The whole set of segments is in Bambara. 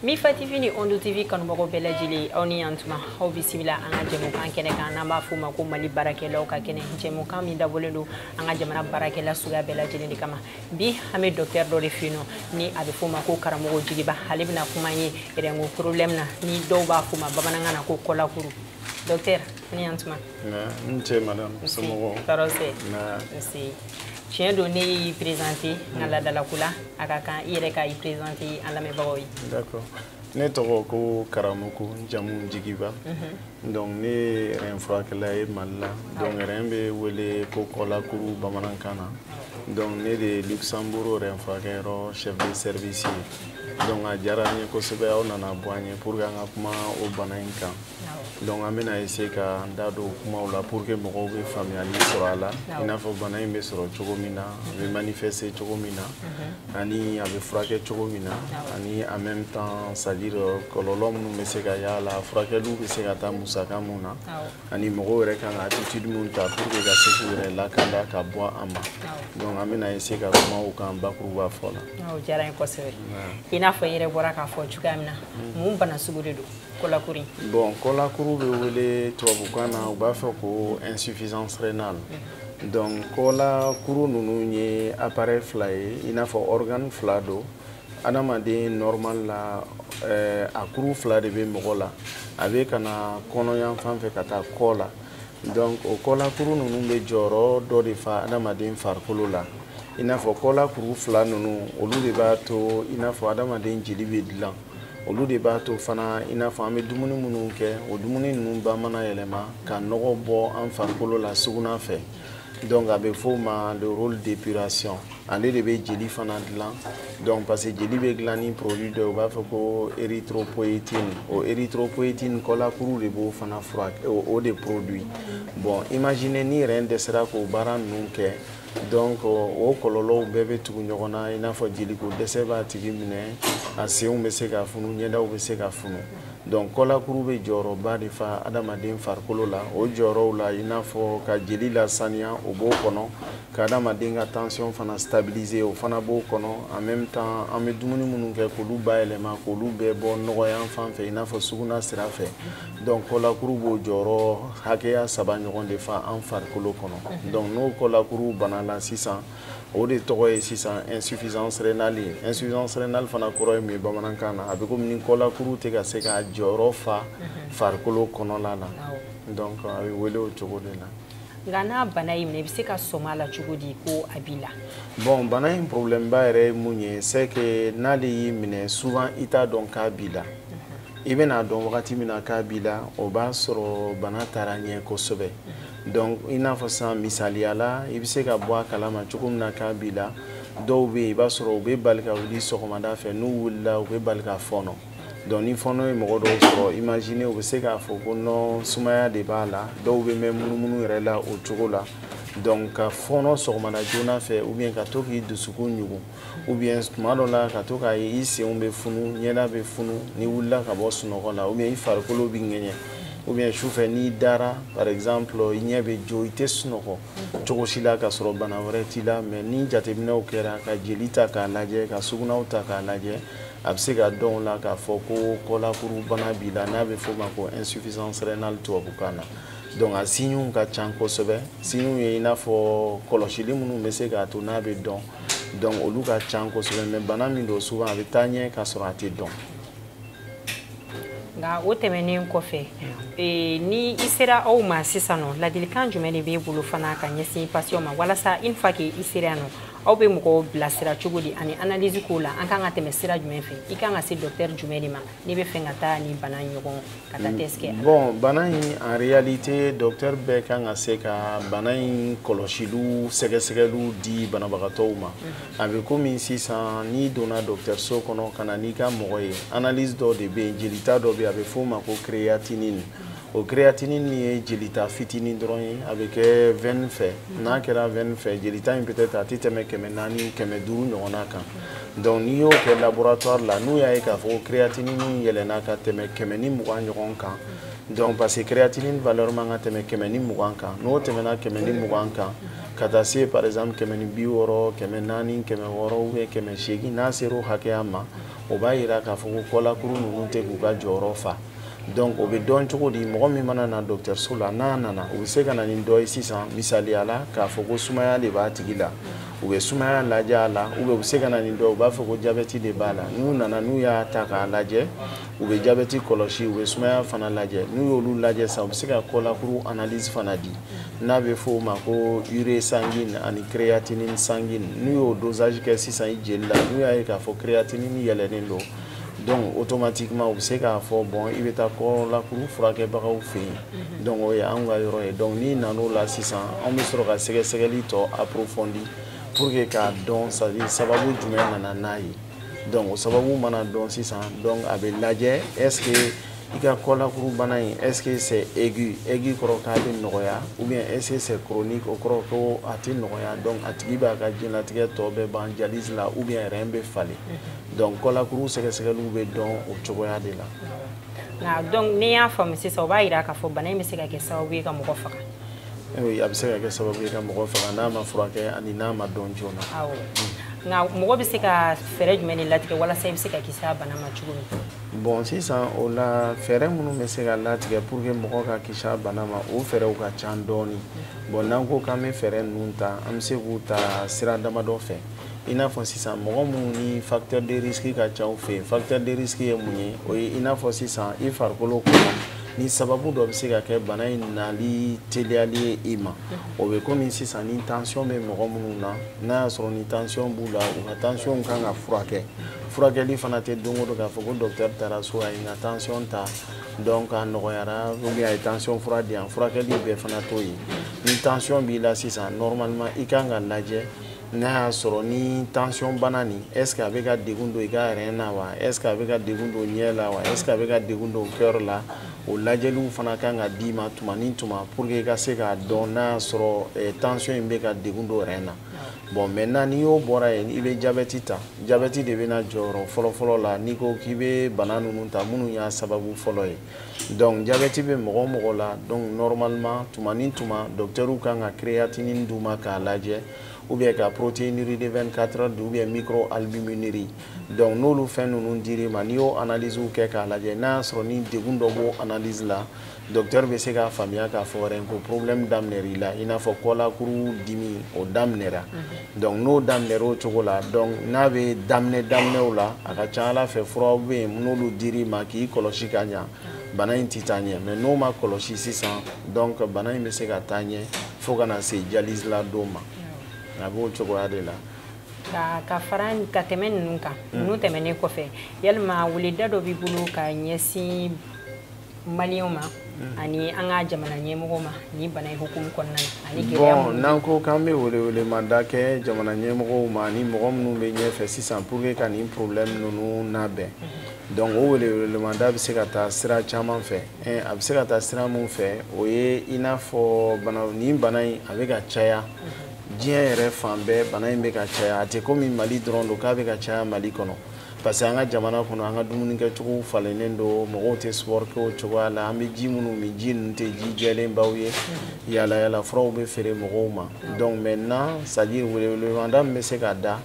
mifa tv ni ondo tv kanubagaw bɛɛ lajɛlen aw ni yantuma aw bisimila an ka jɛmukan kɛnɛ kan n'an b'a f'o ma ko mali baarakɛlaw ka kɛnɛ jɛmukan min dabɔlen don an ka jamana baarakɛla suguya bɛɛ lajɛlen de kama bi an bɛ dɔktɛr dɔ de fɛ yen ni a bɛ f'o ma ko karamɔgɔ jigiba ale bɛna kuma ye rɛnko problɛm na ni dɔw b'a f'o ma bamanankan na ko kɔlakuru dɔktɛr ni yantuma n ce madame somɔgɔw tɔɔrɔ si tiɲɛ don ne y'i présente n ka ladalako la a ka kan i yɛrɛ ka i présente an lamɛnbagaw ye d'accord ne tɔgɔ ko karamɔgɔ n jamu jigiba mhm. donc ne ye rɛn furakɛla ye mali la donc rɛn bɛ wele ko kɔlakuru bamanankan na donc ne de ye luxembourg rɛn furakɛyɔrɔ chef de service ye donc a diyara n ye kosɛbɛ aw nana bɔ an ye pour que an ka kuma o bana in kan donc an bɛna essayer ka n da don kumaw la pour que mɔgɔw bɛ faamuyali sɔrɔ a la i n'a fɔ bana in bɛ sɔrɔ cogo min na a bɛ manifester cogo min na mhm. ani a bɛ furakɛ cogo min na ani en même temps c'est à dire euh, kɔlɔlɔ minnu bɛ se ka y'a la furakɛliw bɛ se ka taa musaka mun na ani mɔgɔw yɛrɛ kan ka attitude mun ta pour que ka se k'u yɛrɛ lakanda ka bɔ a ma donc an bɛna essayer ka kuma o kan bakuruba fɔ la. o diyara n ye kosɛbɛ i n'a fɔ i yɛrɛ bɔra k'a fɔ cogoya min na mun bana sugu de don. kɔlakuru bon kɔlakuru bɛ wele tubabukan na u b'a fɔ ko insuffisance rénale mm. donc kɔlakuru ninnu ye appareil fila ye i n'a fɔ organe fila don adamaden normal la eh, a kuru fila de bɛ mɔgɔ la a bɛ ka na kɔnɔ yan fan fɛ ka taa kɔ la donc o kɔlakuru ninnu bɛ jɔyɔrɔ dɔ de fa adamaden farikolo la i n'a fɔ kɔlakuru fila ninnu olu de b'a to i n'a fɔ adamaden jeli bɛ dilan olu de b'a to fana i n'a fɔ an bɛ dumuni minnu kɛ o dumuni ninnu ba mana yɛlɛma ka nɔgɔ bɔ an farikolo la sugunɛ fɛ donc a bɛ f'o ma le rôle d'épuration ale de bɛ jeli fana dilan donc parce que jeli bɛ dilan ni produit dɔ ye u b'a fɔ ko érythropoétine o érythropoétine kɔlakuru de b'o fana furakɛ o de produit bon imagine ni rɛn dɛsɛra k'o baara ninnu kɛ donc o kɔlɔlɔw bɛɛ bɛ tugu ɲɔgɔn na i n'a fɔ jeliko dɛsɛ b'a tigi minɛ a senw bɛ se ka funu ɲɛdaw bɛ se ka funu donc kɔlakuru bɛ jɔyɔrɔba de fa adamaden farikolo la o jɔyɔrɔw la i n'a fɔ ka jeli lasaniya o b'o kɔnɔ ka adamaden ka tension fana stabiliser o fana b'o kɔnɔ en même temps an bɛ dumuni minnu kɛ k'olu bayɛlɛma k'olu bɛɛ bɔ nɔgɔ yan fan fɛ i n'a fɔ sugunɛ sira fɛ donc kɔlakuru b'o jɔyɔrɔ hakɛya saba ɲɔgɔn de fa an farikolo kɔnɔ mhm. donc n'o kɔlakuru bana la sisan o de tɔgɔ ye sisan insuffisance rénale ye insuffisance rénale fana kɔrɔ ye mun ye bamanankan na a bɛ komi ni kɔlakuru tɛ ka se k'a jɔyɔrɔ fa mhm. farikolo kɔnɔla la donc a bɛ wele o cogo de la nka n'a bana y'i minɛ i bɛ se ka sɔmi a la cogo di ko a b'i la bon bana in problème ba yɛrɛ ye mun ye c'est que n'ale y'i minɛ souvent i t'a dɔn k'a b'i la i bɛna dɔn wagati min na k'a b'i la o b'a sɔrɔ bana taara ɲɛ kosɛbɛ donc i n'a fɔ sisan misaliya la i bɛ se ka bɔ a kalama cogo min na k'a b'i la dɔw bɛ yen i b'a sɔrɔ u bɛ bali ka wuli sɔgɔmada fɛ n'u wulila u bɛ bali ka fɔɔnɔ donc ni fɔɔnɔ ye mɔgɔ dɔw sɔrɔ imagine u bɛ se k'a fɔ ko nɔ sumaya de b'a la dɔw bɛ mɛn munumunu yɛrɛ la o cogo la donc ka fɔɔnɔ sɔgɔmada joona fɛ ou bien ka to k'i dusukun ɲugun ou bien tuma dɔ la ka to k'a ye i senw bɛ funu ɲɛda bɛ funu n'i wulila ka bɔ sunɔgɔ la ou bien i farikolo bɛ ŋɛɲɛ ou bien sufɛ n'i dara par exemple i ɲɛ bɛ jɔ i tɛ sunɔgɔ cogo si la ka sɔrɔ bana wɛrɛ t'i la mais ni jateminɛw kɛra ka jeli ta k'a lajɛ ka sugunɛw ta k'a lajɛ a bɛ se ka dɔn o la k'a fɔ ko kɔlakurubana b'i la n'a bɛ f'o ma ko insuffisance rénale tubabukan na donc a siɲɛw ka ca kosɛbɛ siɲɛw ye i n'a fɔ kɔlɔsili minnu bɛ se k'a to n'a bɛ dɔn donc olu ka can kosɛbɛ mais bana min don souvent a bɛ taa ɲɛ k'a sɔrɔ a tɛ dɔn nka o tɛmɛnen kɔfɛ e, ni i sera aw ma sisan nɔ ladilikan jumɛn de b'e bolo fana ka ɲɛsin patients ma walasa une fois que i sera yan nɔ aw bɛ mɔgɔw bilasira cogo di ani analyse kow la an kan ka tɛmɛ sira jumɛn fɛ i kan ka se docteur jumɛn de ma n'i b'a fɛ ka taa nin bana ɲɔgɔn ka taa test kɛ bon bana in en réalité docteur bɛɛ kan ka se ka bana in kɔlɔsiliw sɛgɛsɛgɛliw di banabagatɔw ma mhm. a bɛ komi sisan n'i donna dɔgɔtɔrɔso kɔnɔ ka na n'i ka mɔgɔ ye analyse dɔ de bɛ yen jelita dɔ bɛ yen a bɛ f'o ma ko créatinine o créatinine ye jelita fitinin dɔrɔn ye a bɛ kɛ veine fɛ mhm. n'a kɛra veine fɛ jelita in peut-être a tɛ tɛmɛ kɛmɛ naani kɛmɛ duuru ɲɔgɔnna kan donc n'i y'o kɛ laboratoire la n'u y'a ye k'a fɔ ko créatinine yɛlɛnna ka tɛmɛ kɛmɛ ni mugan ɲɔgɔn kan donc parce que créatinine valeur man kan ka tɛmɛ kɛmɛ ni mugan kan n'o tɛmɛna kɛmɛ ni mugan kan ka taa se par exemple kɛmɛ ni bi wɔɔrɔ kɛmɛ naani kɛmɛ wɔɔrɔ ou bien kɛmɛ seegin n'a sera o hakɛya ma o b'a yira k'a fɔ ko kɔlakuru ninnu tɛ k'u ka jɔyɔrɔ fa donc o bɛ dɔn cogo di mɔgɔ min mana na dɔgɔtɔrɔso la n'a nana o bɛ se ka na ni dɔ ye sisan misaliya la k'a fɔ ko sumaya de b'a tigi la u bɛ sumaya lajɛ a la u bɛ u bɛ se ka na ni dɔ u b'a fɔ ko jabɛti de b'a la n'u nana n'u y'a ta k'a lajɛ u bɛ jabɛti kɔlɔsi u bɛ sumaya fana lajɛ n'u y'olu lajɛ sisan u bɛ se ka kɔlakuru analyse fana di n'a bɛ fɔ o ma ko urée sanguine ani créatinine sanguine n'u y'o dosage kɛ sisan i jeli la n'u y'a ye k'a fɔ créatinine yɛlɛnen don donc automatiquement u bɛ se k'a fɔ bon i bɛ taa kɔlakuru furakɛbagaw fɛ yen mhm. donc o ye anw ka yɔrɔ ye donc n'i nan'o la sisan anw bɛ sɔrɔ ka sɛgɛsɛgɛli tɔ approfondir pour que k'a dɔn c'est à dire sababu jumɛn nana n'a ye donc o sababu mana dɔn sisan donc a bɛ lajɛ est ce que i ka kɔlakuru bana in est ce que c'est aigu aigu kɔrɔ k'a bɛ nɔgɔya ou bien est ce que c'est chronique o kɔrɔ ko a tɛ nɔgɔya donc a tigi b'a ka diɲɛlatigɛ tɔ bɛɛ ban dialyse la ou bien rein bɛ falen. donc kɔlakuru sɛgɛsɛgɛliw bɛ dɔn o cogoya de la nka donc n'i y'a faamu sisan o b'a jira k'a fɔ bana in bɛ se ka kɛ sababu ye ka mɔgɔ faga a bɛ se ka kɛ sababu ye ka mɔgɔ faga n'a ma furakɛ ani n'a ma dɔn joona nka mɔgɔ bɛ se ka fɛɛrɛ jumɛn ni latigɛ walasa i bɛ se ka kisi bana ma cogo min bon sisan o la fɛɛrɛ minnu bɛ se ka latigɛ pour que mɔgɔ ka kisi bana ma o fɛɛrɛw ka ca dɔɔnin bon n'an ko k'an bɛ fɛɛrɛ ninnu ta an bɛ se k'u ta sira damadɔ fɛ i n'a fɔ sisan mɔgɔ minnu ni facteur de risque ka ca u fɛ yen facteur de risque ye mun ye o ye i n'a fɔ sisan i farikolo kɔnɔ ni sababu dɔ bɛ se ka kɛ bana in nali teliyali ye i ma o bɛ komi sisan ni tension bɛ mɔgɔ minnu na n'a y'a sɔrɔ ni tension b'u la u ka tension kan ka furakɛ furakɛli fana tɛ don o don k'a fɔ ko dɔkitɛri taara so a ye n ka tension ta donc a nɔgɔyara ou bien a ye tension fura di yan furakɛli bɛɛ fana t'o ye ni tension b'i la sisan normalement i kan ka lajɛ n'a y'a sɔrɔ ni tansiyɔn bana nin est ce que a bɛ ka degun don i ka rein na wa est ce que a bɛ ka degun don ɲɛ la wa est ce que a bɛ ka degun don cœur la o lajɛliw fana kan ka d'i ma tuma ni tuma pour que i ka se k'a dɔn n'a y'a sɔrɔ eh, tansiyɔn in bɛ ka degun don rein na bon maintenant n'i y'o bɔra yen i bɛ jabɛti ta jabɛti de bɛ na jɔyɔrɔ fɔlɔfɔlɔ la n'i ko k'i bɛ bana ninnu ta minnu y'a sababu fɔlɔ ye donc jabɛti bɛ mɔgɔ o mɔgɔ la donc normalement tuma ni tuma dɔktɛriw kan ka créatinine d'u ma k'a lajɛ ou bien ka protéinurie de 24 heures ou bien microalbuminurie donc n'olu fɛn ninnu dir'i ma n'i y'o analyse kɛ k'a lajɛ n'a y'a sɔrɔ ni degun dɔ b'o analyse la dɔktɛri bɛ se k'a faamuya k'a fɔ rein ko problème daminɛra i la i n'a fɔ kɔlakuru dimi o daminɛra donc n'o daminɛra o cogo la donc n'a bɛ daminɛ daminɛw la a ka ca a la fɛ furaw bɛ yen n'olu dir'i ma k'i kɔlɔsi ka ɲa bana in tɛ taa ɲɛ mais n'o ma kɔlɔsi sisan donc bana in bɛ se ka taa ɲɛ fo ka na se dialyse la don ma a b'o cogoya de la. ka ka fara ka tɛmɛ ninnu kan ninnu tɛmɛnen kɔfɛ yalima weleda dɔ b'i bolo ka ɲɛsin malienw ma mm. ani an ka jamana ɲɛmɔgɔw ma nin bana in hukumu kɔnɔna na ani gɛlɛya bon n'an ko k'an bɛ welewelemada kɛ jamana ɲɛmɔgɔw ma ni mɔgɔ minnu bɛ ɲɛfɛ sisan pour que ka nin problème ninnu nabɛn mm-hmm. donc o welewelemada bɛ se ka taa sira caman fɛ eh, a bɛ se ka taa sira min fɛ o ye i n'a fɔ bana nin bana in a bɛ ka caya mm-hmm. diɲɛ yɛrɛ fan bɛɛ bana in bɛ ka caya a tɛ komi mali dɔrɔn don k'a bɛ ka caya mali kɔnɔ parce que an ka jamana kɔnɔ an ka dumuni kɛcogow falennen don mɔgɔw tɛ sport kɛ o cogoya la an bɛ ji minnu min ji ninnu tɛ ji jɛlenbaw ye yala yala furaw bɛ feere mɔgɔw ma donc maintenant c'est à dire welewelemada min bɛ se ka da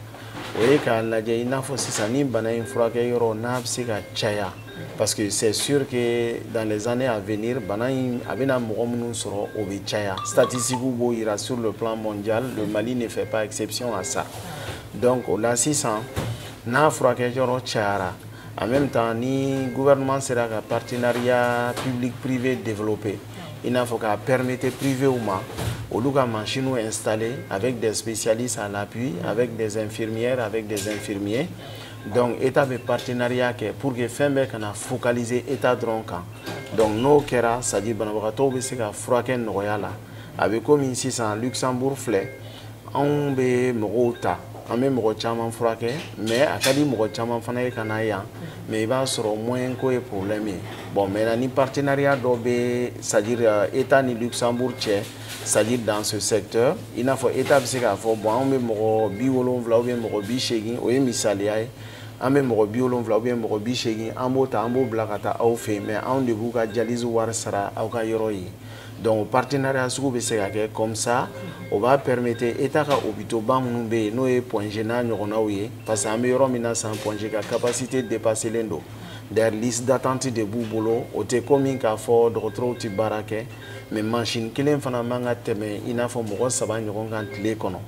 o ye k'a lajɛ i n'a fɔ sisan ni bana in furakɛ yɔrɔ n'a bɛ se ka caya parce que c'est sûr que dans les années à venir bana in a bɛna mɔgɔ minnu sɔrɔ o bɛ caya statistiques b'o jira sur le plan mondial le Mali ne fait pas exception à ça. donc o la sisan n'a furakɛ yɔrɔ cayara en même temps ni gouvernement sera ka partenariat public privé développer i n'a fɔ k'a permettre privéw ma olu ka machinew installer avec des spécialistes à l'appui avec des infirmières avec des infirmiers donc état bɛ partenariat kɛ pour que fɛn bɛɛ kana focaliser état dɔrɔn kan donc n'o kɛra c'est à dire banabagatɔw bɛ se ka furakɛ nɔgɔya la a bɛ komi sisan luxembourg filɛ anw bɛ mɔgɔw ta an bɛ mɔgɔ caman furakɛ mais a ka di mɔgɔ caman fana ye ka na yan mais i b'a sɔrɔ moyen ko ye problème ye bon mais ni partenariat dɔ bɛ c'est-à-dire euh, état ni luxembourg cɛ c'est-à-dire dans ce secteur i n'a fɔ état bɛ se k'a fɔ bon anw bɛ mɔgɔ bi wolonwula ou bien mɔgɔ bi seegin o ye misaliya ye an bɛ mɔgɔ bi wolonwula ou bien mɔgɔ bi seegin an b'o ta an b'o bila ka taa aw fɛ yen mais anw de b'u ka dialyse wari sara aw ka yɔrɔ ye donc o partenariat sugu bɛ se ka kɛ comme ça o b'a permettre état ka hôpitaux ba minnu bɛ yen n'o ye Point G n'a ɲɔgɔnnaw ye parce que an bɛ yɔrɔ min na sisan Point G ka capacité dépasselen don d'ailleurs liste d'attente de b'u bolo o tɛ komi k'a fɔ dɔgɔtɔrɔw tɛ baara kɛ mais mansin kelen fana man ka tɛmɛ i n'a fɔ mɔgɔ saba ɲɔgɔn kan tile kɔnɔ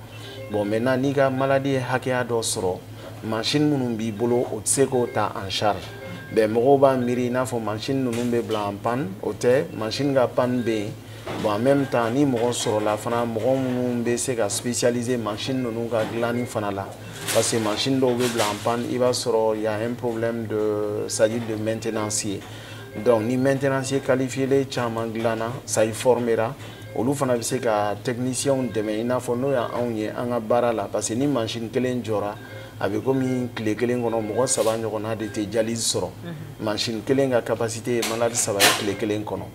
bon maintenant n'i ka malade ye hakɛya dɔ sɔrɔ mansin minnu b'i bolo o tɛ se k'o ta en charge bon mɔgɔw b'a miiri i n'a fɔ mansin ninnu bɛ bila en panne o tɛ mansin ka panne bɛ yen bon en même temps ni mɔgɔ sɔrɔla fana mɔgɔ minnu bɛ se ka spécialiser mansin ninnu ka dilanni fana la parce que mansin dɔw bɛ bila en panne i b'a sɔrɔ y a un problème de c'est à dire de maintenance ye donc ni maintenancier qualifiélen caman dilanna c'est à dire formera olu fana bɛ se ka technicienw dɛmɛ i n'a fɔ n'o y'anw ye an ka baara la parce que ni mansin kelen jɔra a bɛ komi tile kelen kɔnɔ mɔgɔ saba ɲɔgɔnna de tɛ dialyse sɔrɔ mansin kelen ka capacité ye malade saba ye tile kelen kɔnɔ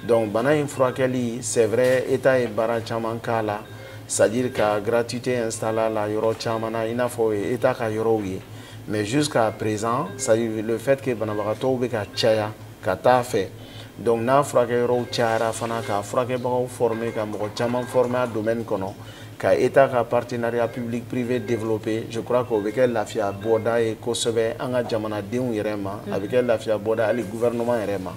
donc bana in furakɛli c'est vrai état ye baara caman k'a la c'est à dire ka gratuité installer a la yɔrɔ caman na i n'a fɔ o ye état ka yɔrɔw ye mais jusqu'à présent c'est à dire le fait que banabagatɔw bɛ ka caya ka taa fɛ donc n'a furakɛ yɔrɔw cayara fana k'a furakɛbagaw former ka mɔgɔ caman former a domaine kɔnɔ ka état ka partenariat public privé développer je crois que o bɛ kɛ lafiya bɔda ye kosɛbɛ an ka jamanadenw yɛrɛ ma a bɛ kɛ lafiya bɔda hali gouvernement yɛrɛ ma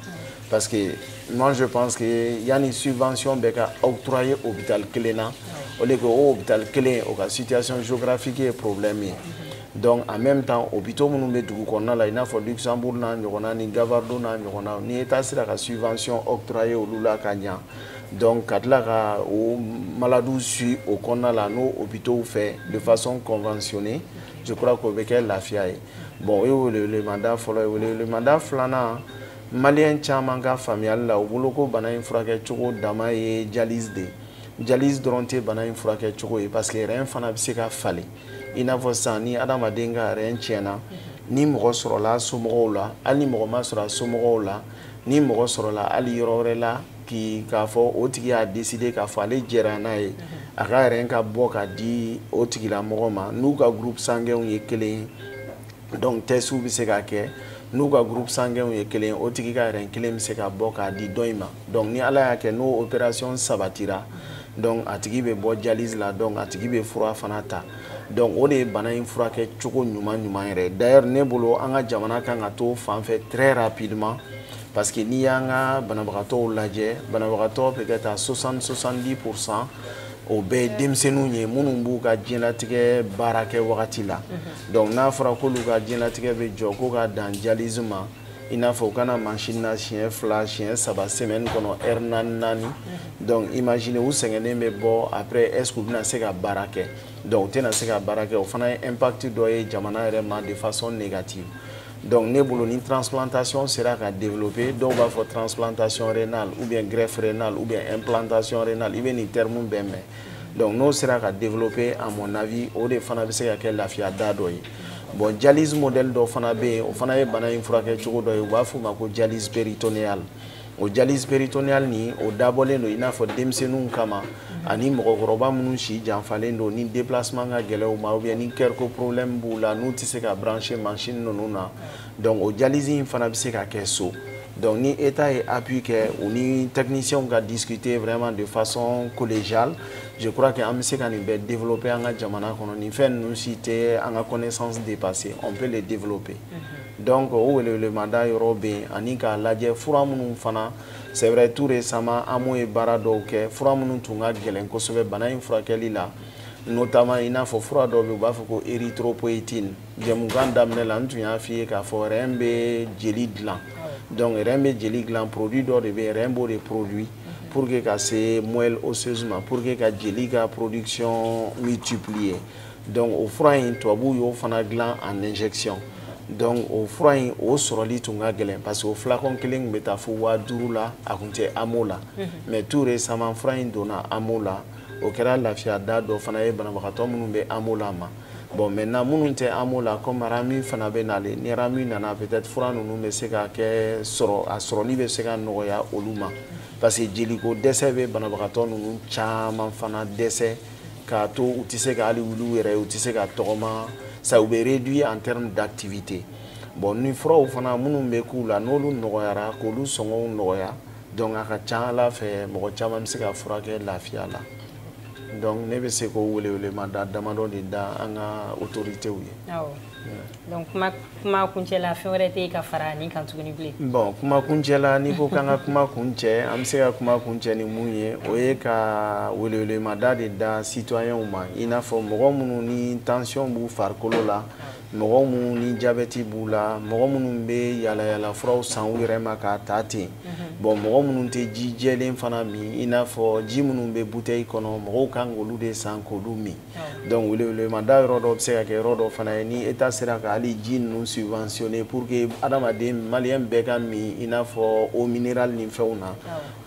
parce que moi je pense que yanni subvention bɛɛ ka octroyer hôpital kelen na or que o hôpital kelen o ka situation géographique ye problème ye donc en même temps hôpitaux minnu bɛ dugu kɔnɔna la i n'a fɔ luxembourg n'a ɲɔgɔnna ni gavardo n'a ɲɔgɔnna n'i ye taa sera ka subvention octroyer olu la ka ɲa donc ka tila ka o maladiw suivre o kɔnɔna la n'o hôpitaux fɛ de façon conventionnée je crois que o bɛ kɛ lafiya ye bon o ye welewelemada fɔlɔ ye welewelemada filanan maliyɛn caman ka faamuyali la u bolo ko bana in furakɛ cogo dama ye dialyse de ye dialyse dɔrɔn tɛ bana in furakɛ cogo ye parce que rein fana bɛ se ka falen i n'a fɔ sisan ni adamaden ka rein tiɲɛna ni mɔgɔ sɔrɔla somɔgɔw la hali ni mɔgɔ ma sɔrɔ a somɔgɔw la ni mɔgɔ sɔrɔla hali yɔrɔ wɛrɛ la k'i k'a fɔ o tigi y'a décidé k'a fɔ ale jɛra n'a ye a ka rein ka bɔ ka di o tigilamɔgɔ ma n'u ka groupe sanguinw ye kelen ye donc testw bɛ se ka kɛ n'u ka groupe sanguinw ye kelen o tigi ka rein kelen bɛ se ka bɔ k'a di dɔ in ma donc ni ala y'a kɛ n'o opération sabatira donc a tigi bɛ bɔ dialyse la donc a tigi bɛ fura fana ta donc o de ye bana in furakɛ cogo ɲuman ɲuman yɛrɛ d'ailleurs ne bolo an ka jamana kan ka t'o fan fɛ très rapidement parce que n'i y'an ka banabagatɔw lajɛ banabagatɔ peut-être à 60 70 pour cent o bɛɛ ye denmisɛnninw ye minnu b'u ka diɲɛlatigɛ baara kɛ wagati la mhm. donc n'a fɔra k'olu ka diɲɛlatigɛ bɛ jɔ ko ka dan dialyse ma i n'a fɔ u ka na machine na siɲɛ fila siɲɛ saba semaine kɔnɔ heure naani naani mhm. donc imagine u sɛgɛnnen bɛ bɔ après est ce que u bɛna se ka baara kɛ donc u tɛna se ka baara kɛ o fana ye impact dɔ ye jamana yɛrɛ ma de façon négative donc ne bolo ni transplantation sera ka développer dɔw b'a fɔ transplantation rénale ou bien greffe rénale ou bien implantation rénale i bɛ nin terme bɛɛ mɛn donc n'o sera ka développer à mon avis o de fana bɛ se ka kɛ lafiya da dɔ ye bon dialyse modèle dɔ fana bɛ yen o fana ye bana in furakɛ cogo dɔ ye u b'a f'o ma ko dialyse péritonéale o dialyse péritonéale nin o dabɔlen don i n'a fɔ denmisɛnninw kama ani mɔgɔkɔrɔba minnu si janfalen don ni déplacement ka gɛlɛn u ma ou bien ni cœur ko problème b'u la n'u tɛ se ka brancher machine ninnu na donc o dialyse in fana bɛ se ka kɛ so donc ni État ye appui kɛ u ni techniciens ka discuter vraiment de façon collégiale je crois que an bɛ se ka nin bɛɛ développer an ka jamana kɔnɔ nin fɛn ninnu si tɛ an ka connaissance dépasser on peut les développer. donc o welewelemada yɔrɔ bɛ yen ani k'a lajɛ fura minnu fana c'est vrai tout récemment AMO ye baara dɔw kɛ fura minnu tun ka gɛlɛn kosɛbɛ bana in furakɛli la notamment i n'a fɔ fura dɔw bɛ u b'a fɔ ko érythropoïétine jɛmukan daminɛ la n tun y'a f'i ye k'a fɔ rein bɛ jeli dilan donc rein bɛ jeli dilan produit dɔ de bɛ rein b'o de produire pour que ka se moelle osseuse ma pour que ka jeli ka production multiplier donc o fura in tubabuw y'o fana dilan en injection donc o fura in o sɔrɔli tun ka gɛlɛn parce que o flacon kelen tun bɛ taa fo waa duuru la a tun tɛ amo la mhm. mais tout récemment fura in donna amo la o kɛra lafiya da dɔ fana ye banabagatɔ minnu bɛ amo la ma bon maintenant minnu tɛ amo la comme ramu fana bɛ nale ni ramu nana peut-être fura ninnu bɛ se ka kɛ sɔrɔ a sɔrɔli bɛ se ka nɔgɔya olu ma parce que jeliko dɛsɛ bɛ banabagatɔ ninnu caman fana dɛsɛ k'a to u tɛ se ka hali wuli u yɛrɛ ye u tɛ se ka tɔgɔma sa u bɛ réduit en terme d'activité bon ni furaw fana minnu bɛ k'u la n'olu nɔgɔyara k'olu sɔngɔw nɔgɔya donc a ka ca ala fɛ mɔgɔ caman bɛ se ka furakɛ lafiya la donc ne bɛ se k'o welewelemada damadɔ de da an ka autoritéw ye. donc kuma kuma kuncɛ la fɛn wɛrɛ tɛ yen ka fara nin kan tuguni bilen. bon kuma kuncɛ la n'i ko k'an ka kuma kuncɛ an bɛ se ka kuma kuncɛ ni mun ye o ye ka welewelemada de da citoyenw ma i n'a fɔ mɔgɔ minnu ni tension b'u farikolo la mɔgɔ minnu ni jabɛti b'u la mɔgɔ minnu bɛ yalayala furaw san u yɛrɛ ma k'a ta ten mhm. bon mɔgɔ minnu tɛ ji jɛlen fana min i n'a fɔ ji minnu bɛ butɛyi kɔnɔ mɔgɔw kan k'olu de san k'olu min. donc welewelemada yɔrɔ dɔ bɛ se ka kɛ yɔrɔ dɔ fana ye ni eta sera ka hali ji ninnu subventionner pour que adamaden maliyɛn bɛɛ ka min i n'a fɔ eau minérale ni fɛnw na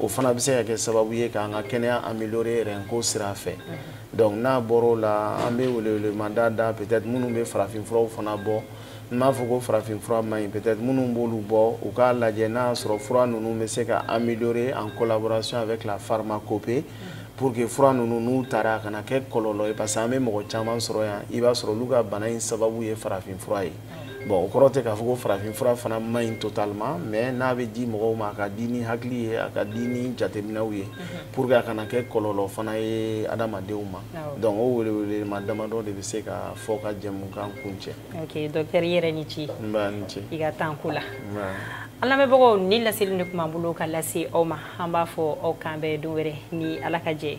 o fana bɛ se ka kɛ sababu ye k'an ka kɛnɛya améliorer rein ko sira fɛ donc n'a bɔra o la an bɛ welewelemada da peut-être minnu bɛ farafinfuraw fana bɔ n m'a fɔ ko farafin fura man ɲi peut-être minnu b'olu bɔ u k'a lajɛ n'a y'a sɔrɔ fura ninnu bɛ se ka améliorer en collaboration avec la pharmacopée pour que fura ninnu n'u tara a kana kɛ kɔlɔlɔ ye parce que an bɛ mɔgɔ caman sɔrɔ yan i b'a sɔrɔ olu ka bana in sababu ye farafin fura ye bon o kɔrɔ tɛ k'a fɔ ko farafin fura fana man ɲi totalement mais n'a bɛ di mɔgɔw ma a ka di ni hakili ye a ka di ni jateminɛw ye pour que a kana kɛ kɔlɔlɔ fana ye adamadenw ma donc o welewelema damadɔ de bɛ se ka fɔ ka jɛmukan kuncɛ ok dɔkitɛri i yɛrɛ ni ce nba ni ce i ka tan ko la an lamɛnbagaw nin laseli de tun b'an bolo ka lase aw ma an b'a fɔ aw k'an bɛn don wɛrɛ ni ala ka jɛn